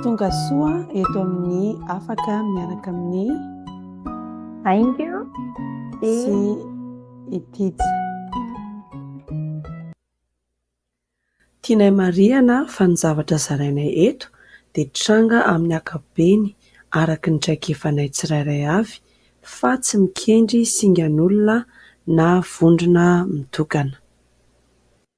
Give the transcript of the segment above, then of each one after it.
Tonga soa eto amin'ny afaka miaraka amin'ny Ainga sy Itija. Tianay marihana fa ny zavatra zarainay eto dia tranga amin'ny ankapobeny araka ny traikefanay tsirairay avy fa tsy mikendry singan'olona na vondrona mitokana.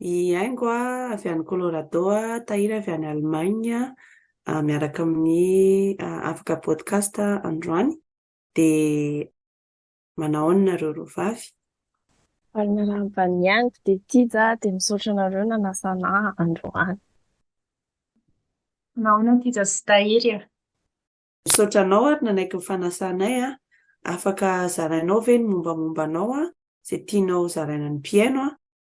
I Haingo avy any Colorado, Tahiry avy any Allemagne miaraka amin'ny Afaka Podcast androany dia manao ahoana nareo roa vavy? Ary miarahaba an'i Haingo dia Tija dia misaotra anareo nanasana ahy androany. Manao ahoana Tija sy Tahiry a? Misaotra anao ary nanaiky ny fanasanay a! Afaka zarainao ve ny mombamomba anao a? Izay tianao zaraina ny mpihaino a!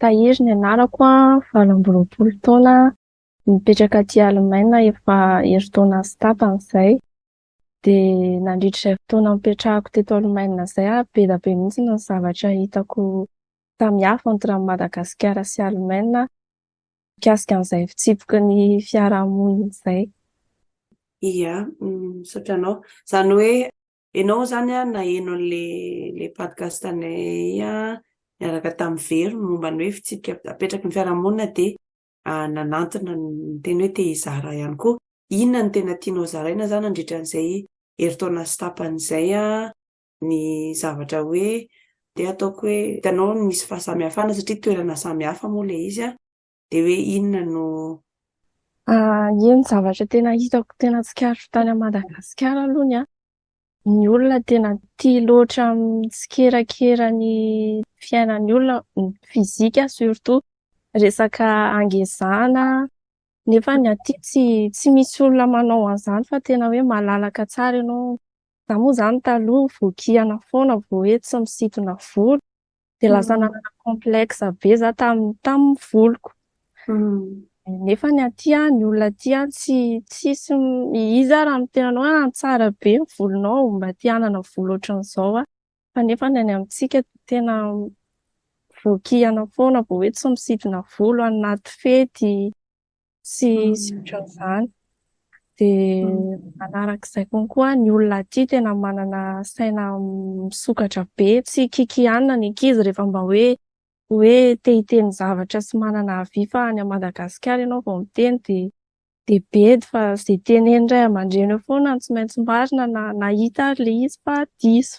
Tahiry ny anarako an, valo amby roapolo taona, mipetraka aty Alemaina efa herintaona sy tapany izay. Dia nandritra izay fotoana nipetrahako teto Alemaina izay ary be dia be mihitsy ny zavatra hitako samihafa entre an'i Madagasikara sy Alemaina mikasika an'izay fitsipiky ny fiarahamonina izay. Ia, misaotra anao. Izany hoe ianao izany an, naheno an'ilay Podcastanay niaraka tamin'i Vero momba ny hoe fitsipika apetraky ny fiarahamonina dia nanantona ny teny hoe te hizara ihany koa. Inona no tena tianao zaraina za nandritra an'izay herintaona sy tapany izay ny zavatra hoe te hataoko hoe hitanao ny misy fahasamihafana satria toerana samihafa moa ilay izy an, dia hoe inona no. Eny zavatra tena hitako tena tsikaritro tany Madagasikara aloha ny ahy ny olona tena tia loatra mitsikerakera ny fiainan'ny olona, ny fizika surtout, resaka hangezana, nefa ny aty tsy tsy misy olona manao an'izany fa tena hoe malalaka tsara ianao. Izaho moa izany taloha voakihana foana vao hoe tsy misintona volo, Dia lasa mm. nanana complexe be za tamin'ny tamin'ny voloko. Mm. Nefa ny aty ny olona aty tsy tsisy iza raha amin'ny tenanao ah, tsara be ny volonao mba te hanana volo ohatran'izao ah. Fa nefa ny any amintsika tena voakihana foana vao hoe tsy misidina volo anaty fety. sy sy Mm. ohatran'izany. Dia Mm. manarak'izay konkoa ny olona aty tena manana saina misokatra be, tsy kikianina ny ankizy rehefa mba hoe hoe te hiteny zavatra sy manana avis fa any Madagasikara ianao vao miteny dia dia bedy fa izay tenenin'ny ray aman-dreny eo foana no tsy maintsy marina na na hita ary ilay izy fa diso.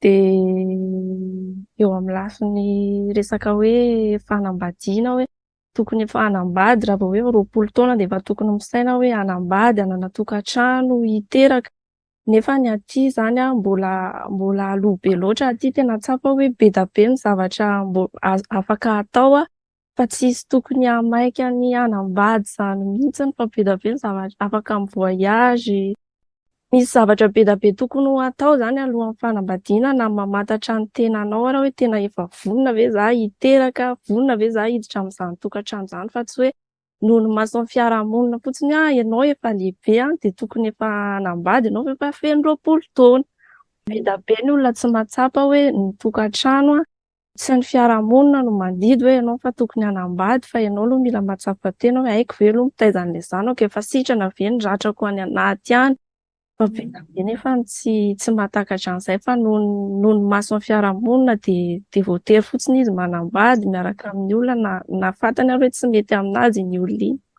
Dia eo amin'ny lafiny resaka hoe fanambadiana hoe tokony efa hanambady raha vao hoe roapolo taona dia efa tokony misaina hoe hanambady, hanana tokantrano, hiteraka. Nefa ny aty izany an, mbola mbola aloha be loatra aty. Tena tsapa hoe be dia be ny zavatra mbo- afaka atao Fa tsisy tokony hahamaika ny hanambady izany mihitsy ny fa be dia be ny zavatra afaka mi voyage, misy zavatra be dia be tokony ho atao izany alohan'ny fanambadiana na ny mamantatra ny tenanao ary hoe tena efa vonona ve za hiteraka, vonona ve za hiditra amin'izany tokantrano izany fa tsy hoe noho ny mason'ny fiarahamonina fotsiny hoe ianao efa lehibe an dia tokony efa hanambady ianao fa efa feno roapolo taona. Be dia be ny olona tsy mahatsapa hoe ny tokantrano an Tsy ny fiarahamonina no mandidy hoe ianao fa tokony hanambady fa ianao aloha mila mahatsapa tena hoe haiko ve aloha mitaiza an'ilay zanako, efa sitrana ve ny ratrako any anaty any? Fa be dia be nefa ny tsy tsy mahatakatra an'izay fa noho ny noho ny mason'ny fiarahamonina dia dia voatery fotsiny izy manambady miaraka amin'ny olona na na fantany ary hoe tsy mety amin'azy iny olona iny.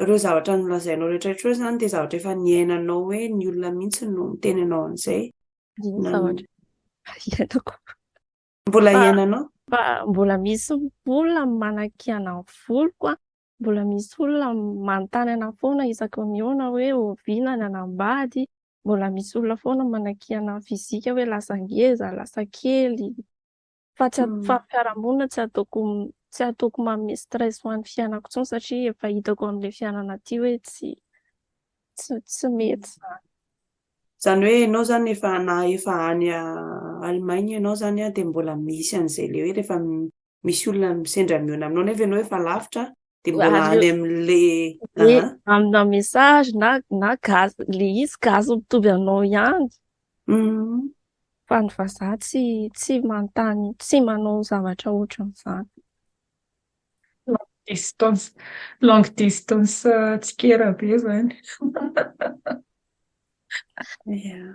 Ireo zavatra nolazainao rehetra ireo izany dia zavatra efa niainanao hoe ny olona mihitsy no miteny anao an'izay. Ny zavatra iainako. Mbola iainanao? Mbola misy olona manakiana ny voloko an. Mbola misy olona manontany anao foana isaky ny mihaona hoe oviana ny anambady. Mbola misy olona foana manakiana ny fizika hoe lasa ngeza, lasa kely. Fa tsy ataoko amin'ny fiarahamonina, tsy ataoko tsy ataoko manome stress ho an'ny fiainako intsony satria efa hitako amin'ilay fiainana aty hoe tsy tsy tsy mety izany. Izany hoe ianao izany efa na efa any Allemagne ianao izany dia mbola misy an'izay ilay hoe rehefa misy olona sendra mihaona aminao nefa ianao efa lavitra de mbola any amle amina message na na gaz le izy gaz mitovy anao ihany mhm. fa ny vazaha tsy tsy manontany tsy manao zavatra ohatran'izany distance long distance euh, tsikera be zany yeah.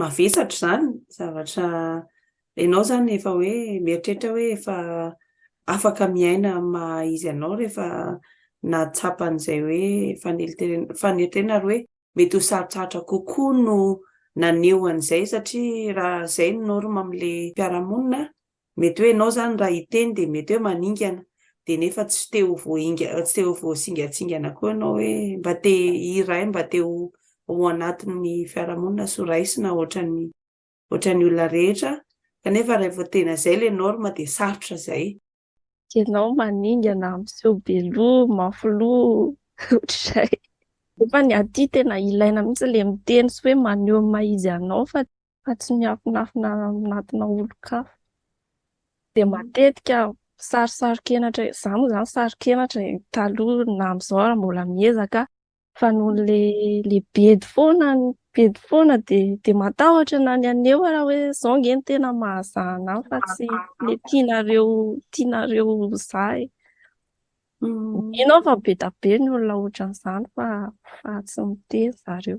mavesatra izany zavatra ianao izany efa hoe mieritreritra hoe efa afaka miaina amin'ny maha izy anao rehefa nahatsapa an'izay hoe faneliteren- faneriterena ary hoe mety ho sarotsarotra kokoa no naneho an'izay satria raha izay ny norme amin'ilay mpiara-monina Mety hoe ianao izany raha hiteny dia mety hoe maningana, dia nefa tsy te ho voaingana, tsy te ho voasingantsingana koa ianao hoe mba te hiray, mba te ho ao anatin'ny fiarahamonina sy ho raisina ohatran'ny ohatran'ny olona rehetra, kanefa raha vao tena izay ilay norme dia sarotra izay. Ianao maningana, miseho be loha, mafy loha, ohatr'izay. Nefa ny aty tena ilaina mihitsy ilay miteny sy hoe maneho ny maha izy anao fa fa tsy miafinafina anatina olon-kafa. Dia matetika saro-saron-kenatra e, za moa zany saron-kenatra e, taloha na amzao ara mbola miezaka fa noho le le bedy foana ny bedy foana de de matahotra na ny aneo ara hoe zao nge ny tena mahazaha anah fa tsy le tianareo tianareo ho za e. Mino aho fa be da be ny olona ohatran'izany fa fa tsy miteny zareo.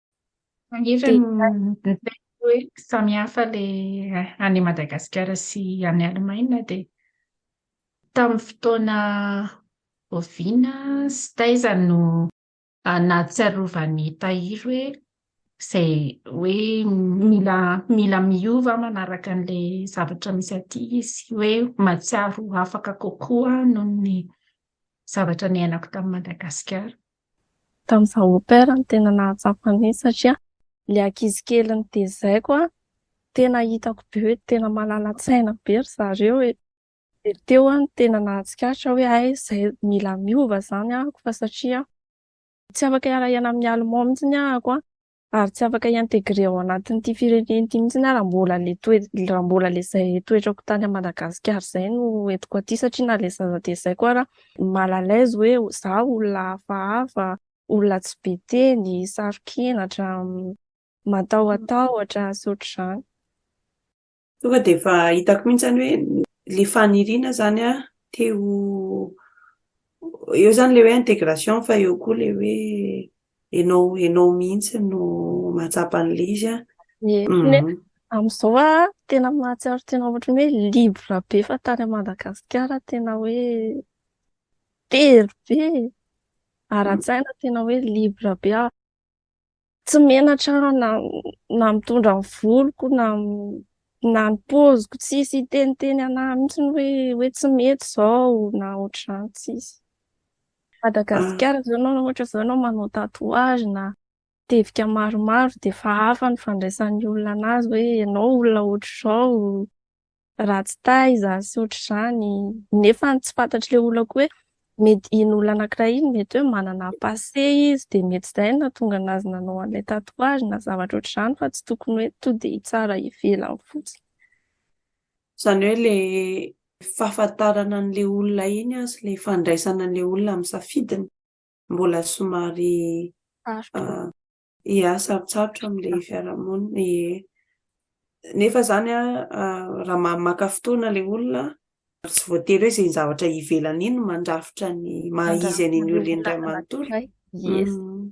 Manetra ny hoe samihafa ilay any Madagasikara sy any Alemaina dia tamin'ny fotoana oviana sy taiza no nahatsiarovan'i Tahiry hoe izay hoe mila mila miova manaraka an'ilay zavatra misy aty izy, hoe mahatsiaro afaka kokoa noho ny zavatra niainako tany Madagasikara? Tamin'izaho au pair no tena nahatsapa an'iny satria ilay ankizy kely notezaiko an, tena hitako be hoe tena malala-tsaina be ry zareo e. Dia teo aho no tena nahatsikaritra hoe hay izay mila miova izany ahako fa satria tsy afaka hiara-hiaina amin'ny Allemands mihitsy ahako an. ary tsy afaka hi-intégrer ao anatin'ity firenena ity mihitsy aho raha mbola le toe- raha mbola le zay toetrako tany a Madagasikara zay no entiko aty satria na le zaza dia zay koa ara mal à l'aise hoe za olona hafahafa, olona tsy be teny, saro-kenatra, matahotahotr sy ohatr'izany. Tonga dia efa hitako mihitsy izany hoe ilay faniriana izany an, te ho, eo izany ilay hoe intégration fa eo koa ilay hoe ianao, ianao mihitsy no mahatsapa an'ilay izy an. Ie, ne- amin'izao an, tena mahatsiaro tena ohatran'ny hoe libre be fa tany à Madagasikara tena hoe very be e. Ara-tsaina tena hoe libre be aho. tsy menatra na na mitondra ny voloko na na ny poziko tsisy hiteniteny anah mihitsy hoe hoe tsy mety zao na ohatr'izany tsisy Madagasikara ah. zao nao ohatra zao nao manao tatouage na tevika maromaro de fa hafa ny fandraisan'ny olona anazy hoe ianao olona ohatr'izao ratsy taha izany sy ohatr'izany, nefa tsy fantatr'ilay olona koa hoe mety iny olona anankiray iny mety hoe manana passé izy dia mety izay no nahatonga an'azy nanao an'ilay tatouage na zavatra ohatr'izany fa tsy tokony hoe tonga dia hitsara ivelany fotsiny. Izany hoe ilay fahafantarana an'ilay olona iny sy ilay fandraisana an'ilay olona amin'ny safidiny mbola somary sarotra. Ia, sarotsarotra amin'ilay fiarahamonina ee. Nefa izany an, raha ma- maka fotoana ilay olona an, ary tsy voatery hoe izay zavatra ivelany iny no mandrafitra ny maha izy an'iny olona iny iray manontolo. Yes. Mm.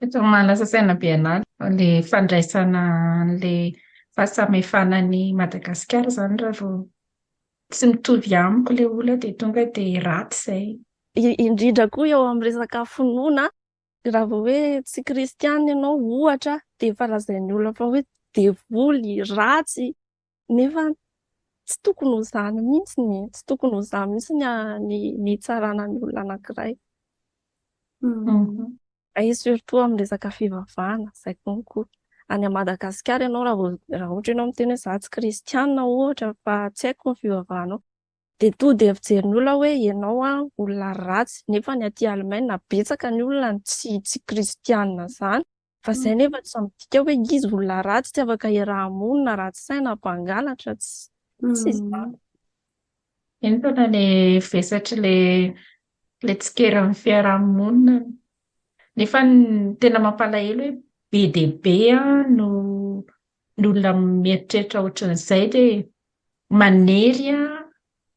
Tokony manasa saina be an'ala fa le fandraisana an'le fahasamihafana an'i Madagasikara zany raha vao tsy mitovy amiko le olona de tonga de raty zay. Indrindra koa eo amin'ny resaka finoana, raha vao hoe tsy kristianina ianao ohatra de efa lazain'ny olona fa hoe devoly, ratsy, Nefa tsy tokony ho izany mihitsy ny tsy tokony ho izany mihitsy ny ny nitsarana ny olona anankiray. Et surtout amin'ny resaka fivavahana, izay konko. Any à Madagascar ianao raha vao raha ohatra ianao miteny hoe za tsy kristianina ohatra fa tsy haiko ny fivavahanao, Dia toa dia fijerin'ny olona hoe ianao an olona ratsy, nefa ny aty Alemaina betsaka ny olona no tsy tsy kristianina zany, fa izay nefa tsy midika hoe izy olona ratsy, tsy afaka iaraha-monina, ratsy saina, mpangalatra, tsy tsy izany. Eny tena le vesatry le le tsikera amin'ny fiaraha-monina no nefa ny tena mampalahelo hoe be dia be an no ny olona mieritreritra ohatran'izay dia manery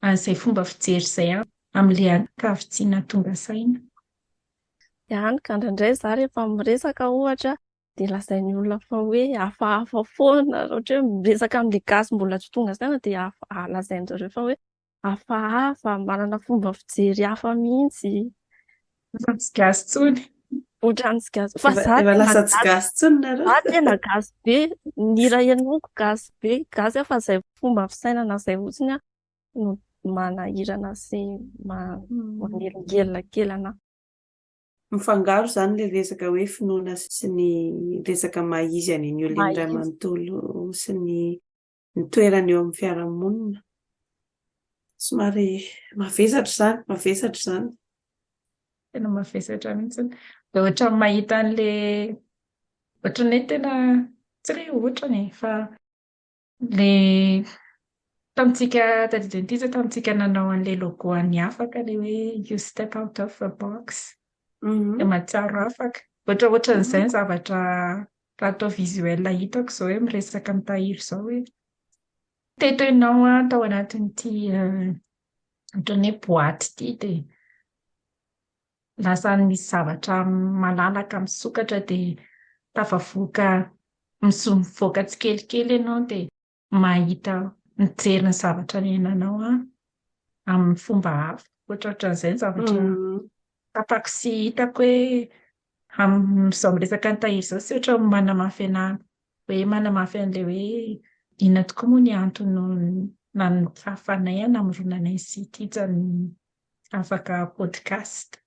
an'izay fomba fijery izay amin'ilay ankavitsiana tonga saina. Ihany ka indraindray za rehefa miresaka ohatra dia lazain'ny olona fa hoe hafahafa foana, ohatra hoe miresaka amin'ilay gasy mbola tsy tonga saina dia lazain'izareo fa hoe hafahafa, manana fomba fijery hafa mihitsy. Efa tsy gasy intsony. Ohatran'ny tsy gasy. Fa za tena lasa tsy gasy intsony nareo. Za tena gasy be. Ny hira henoko gasy be. Gasy fa izay fomba fisainana izay fotsiny no manahirana sy manelingelina kely anà. Mifangaro izany ilay resaka hoe finoana sy ny resaka maha izy an'i New Lin Iray manontolo sy ny ny toerany eo amin'ny fiarahamonina. Somary mavesatra izany, mavesatra izany. Tena mavesatra mihitsy. Dia ohatran'ny mahita an'ilay ohatran'ny hoe tena tsy hoe ohatrany e, fa ilay tamintsika taty Adventista tamintsika nanao an'ilay logo an'ny afaka ilay hoe you step out of the box dia mahatsiaro afaka. Ohatra ohatran'izay ny zavatra Raha atao visuel hitako izao hoe miresaka amin'i Tahiry izao hoe teto ianao an, tao anatin'ity ohatran'ny hoe boaty ity dia lasa misy zavatra malalaka misokatra dia tafavoaka mivoaka tsikelikely ianao dia. mahita mijery ny zavatra niainanao a amin'ny fomba hafa ohatra ohatran'izay ny zavatra tapako sy hitako hoe amin'izao miresaka an'i Tahiry izao tsy ohatra ny manamafy anà hoe manamafy an'ilay hoe inona tokoa moa ny antony nahafahanay an namoronana anay sy ity zany afaka podcast.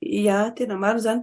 Ia, tena marina izany.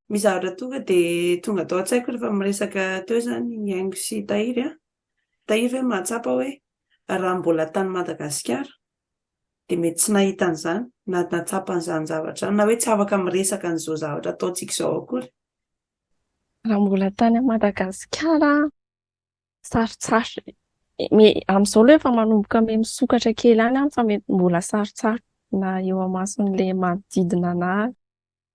Misy zavatra tonga dia tonga tao an-tsaiko rehefa miresaka teo izany i Haingo sy Tahiry an! Tahiry ve mahatsapa hoe raha mbola tany Madagasikara dia mety tsy nahita an'izany na nahatsapa an'izany zavatra izany na hoe tsy afaka miresaka an'izao zavatra ataontsika izao akory? Raha mbola tany Madagasikara aho, sarotsaro. Amin'izao aloha efa manomboka me misokatra kely any aho fa mety mbola sarotsaro na eo amason'ilay manodidina anah.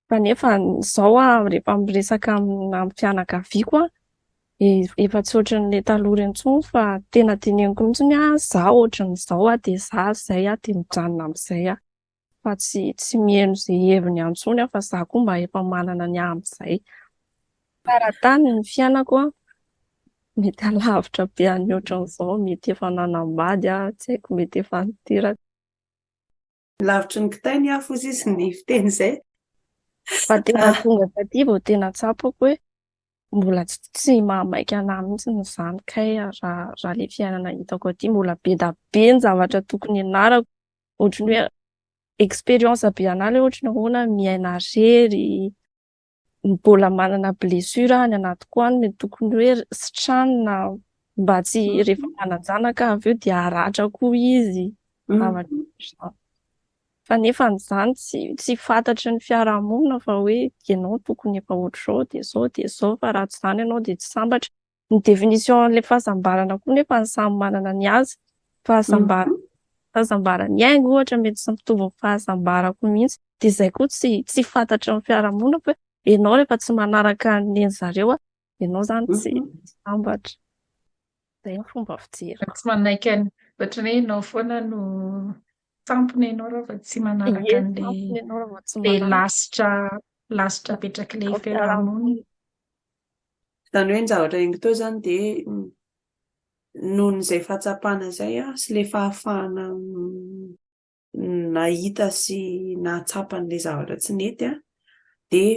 Fa nefa izao aho rehefa miresaka amin'ny fianakaviako aho, dia efa tsy ohatran'ilay taloha ireny intsony fa tena dinihiko mihitsy ny ahy izaho ohatran'izao aho dia izaho izay aho dia mijanona amin'izay aho. Fa tsy tsy miheno izay heviny intsony aho fa izaho koa mba efa manana ny ahy amin'izay. Faran-tany ny fiainako an, mety halavitra be an'ny ohatran'izao, mety efa nanambady aho, tsy haiko mety efa niteraka. Lavitry ny kitay ny afo hozy izy ny fiteny izay. Fa tena tonga taty vao tena tsapako hoe mbola tsy mahamaika anah mihitsy izany kay raha raha le fiainana hitako aty mbola be da be ny zavatra tokony ianarako ohatry ny hoe expérience be anah le ohatry ny ahoana miaina rery mbola manana blessure any anatiko any mety tokony hoe sitrana mba tsy mm. rehefa manan-janaka avy eo dia aratra koa izy mm. zavatra izany fa nefa an'izany tsy tsy fantatry ny fiarahamonina fa hoe ianao tokony efa ohatr'izao dia izao dia izao fa raha tsy izany ianao dia tsy sambatra Ny définition an'ilay fahasambarana koa nefa ny samy manana ny azy. Fahasambarana, mm -hmm. fahasambaran'ny aingo ohatra mety tsy mitovy amin'ny fahasambarako mihitsy. Dia izay koa tsy, tsy fantatry ny fiarahamonina fa ianao rehefa tsy manaraka ny zareo, ianao izany mm -hmm. tsy mhm. sambatra. Izay ny fomba fijery. Tsy manaiky any, ohatran'ny hoe ianao foana no tampony ianao raha vao tsy manaraka an'ilay lasitra lasitra apetrak'ilay fiarahamonina. Izany hoe ny zavatra henoko teo izany dia noho izay fahatsapana izay sy ilay fahafahana nahita sy nahatsapa an'ilay zavatra tsy nety an, dia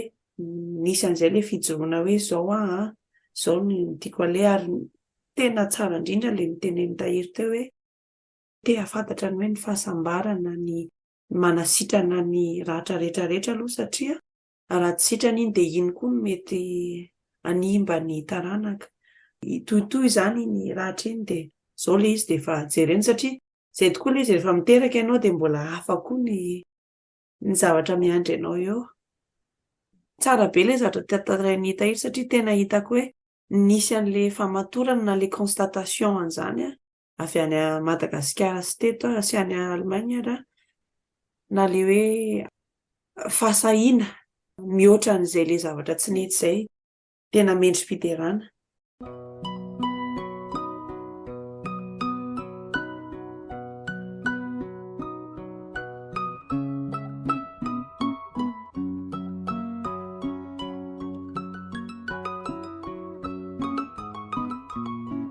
nisy an'izay ilay fijoroana hoe izao aho an, izao no tiako aleha ary tena tsara indrindra ilay notenenin'i Tahiry teo hoe te hahafantatra ny hoe ny fahasambarana, ny manasitrana ny ratra rehetra rehetra aloha satria Raha tsy sitrana iny dia iny koa no mety hanimba ny taranaka. Hitohitohy izany iny ratra iny dia izao ilay izy dia efa jerena satria izay tokoa ilay izy rehefa miteraka ianao dia mbola hafa koa ny ny zavatra miandry anao eo. Tsara be ilay zavatra tantarain'i Hita iny satria tena hitako hoe nisy an'ilay famatorana na ilay constatation an'izany aho avy any Madagasikara sy teto ary sy any Allemagne ary an, na le hoe fahasahiana mihoatra an'izay le zavatra tsy nety izay tena mendri-piderana.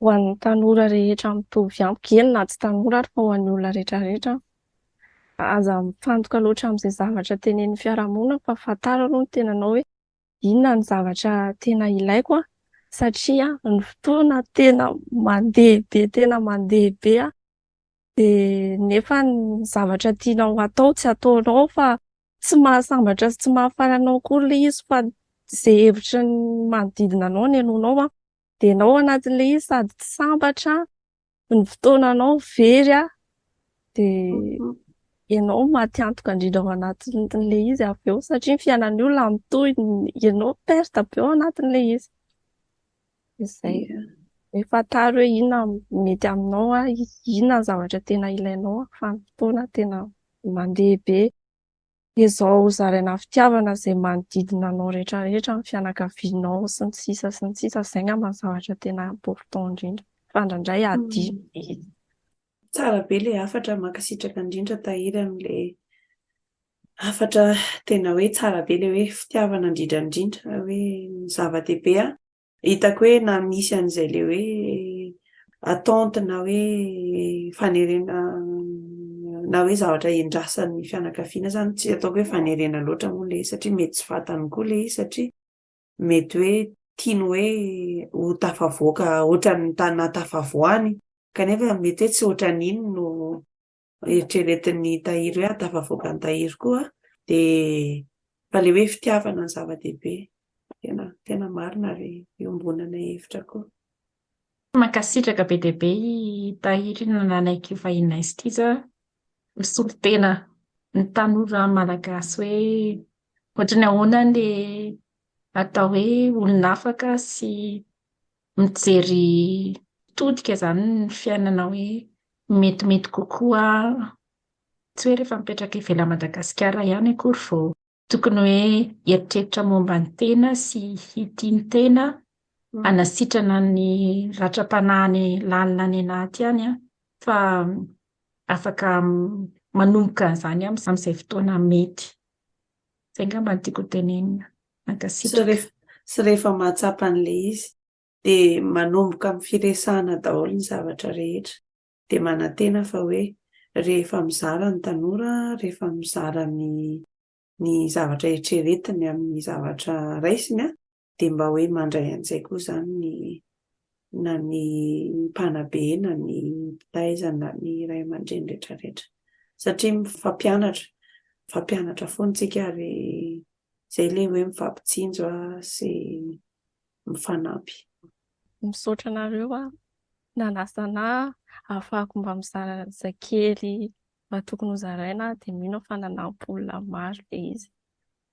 ho an'ny tanora rehetra mitovy amiko, eny na tsy tanora ary fa ho an'ny olona rehetrarehetra an, aza mifantoka loatra amin'izay zavatra tenenin'ny fiarahamonina fa fantaro aloha ny tenanao hoe inona no zavatra tena ilaiko an, satria ny fotoana tena mandeha be tena mandeha be an, dia nefa ny zavatra tianao hatao tsy ataonao fa tsy mahasambatra sy tsy mahafaly anao akory ilay izy fa izay hevitry ny manodidina anao no henoinao an, dia enao anatin'ilay izy sady tsy sambatra ny fotoananao very a dia mhm. ianao maty antoka indrindra ao anatin'ilay izy avy eo satria ny fiainan'ny olona mitohy ianao perte be ao anatin'ilay izy izay efa taro hoe inona mety aminao a inona ny zavatra tena ilainao a fa ny fotoana tena mandeha be dia zao zaraina fitiavana izay manodidina anao rehetra rehetra ny fianakavianao sy ny sisa sy ny sisa izay ngamba ny zavatra tena important indrindra fa ndraindray adino mm. mihitsy tsara be le hafatra mankasitraka indrindra tahiry amin'le hafatra tena hoe tsara be le hoe fitiavana indrindra indrindra hoe zava-dehibe a Hitako hoe na misy an'izay le hoe attente na hoe fanerena na hoe zavatra endrasan'ny fianakaviana zany tsy ataoko hoe fanerena loatra moa le satria mety tsy fantany koa le izy satria mety hoe tiany hoe ho tafavoaka ohatran'ny tana tafavoany kanefa mety hoe tsy ohatran'iny no eritreretin'ny tahiry hoe ahatafavoaka ny tahiry koa dia fa le hoe fitiavana ny zava-dehibe tena tena marina ary iombonana hevitra koa. Mankasitraka be dia be i Tahiry nanaiky ho vahininay Stiza misolo tena ny tanora malagasy hoe ohatran'ny ahoana le atao hoe olona afaka sy mijery mitodika izany ny fiainana hoe metimety kokoa, tsy hoe rehefa mipetraka ivelan'i Madagasikara ihany akory vao tokony hoe hieritreritra momba ny tena sy hitia ny tena, hanasitrana ny ratram-panahiny lalina any anaty any an, fa afaka manomboka an'izany amin'izay fotoana mety. Zay ngamba no tiako hotenenina. Mankasitraka. Sy rehefa mahatsapa an'ilay izy dia manomboka amin'ny firesahana daholo ny zavatra rehetra. Dia manantena fa hoe rehefa mizara ny tanora, rehefa mizara ny ny zavatra eritreretiny amin'ny zavatra raisiny dia mba hoe mandray an'izay koa izany ny na ny mpanabe na ny mpitaiza na ny ray aman-dreny rehetrarehetra satria mifampianatra mifampianatra foana tsika ary izay ilay hoe mifampitsinjo a sy mifanampy misaotra anareo a nanasana afako mba mizara zakely mba tokony ho zaraina dia mino fa nanampola maro le izy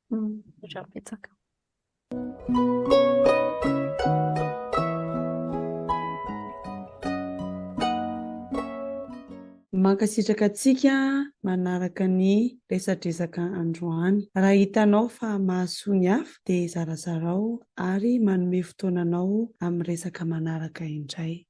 Misaotra betsaka. Mankasitraka antsika manaraka ny resadresaka androany. Raha hitanao fa mahasoa ny hafa dia zarazarao ary manome fotoana anao amin'ny resaka manaraka indray.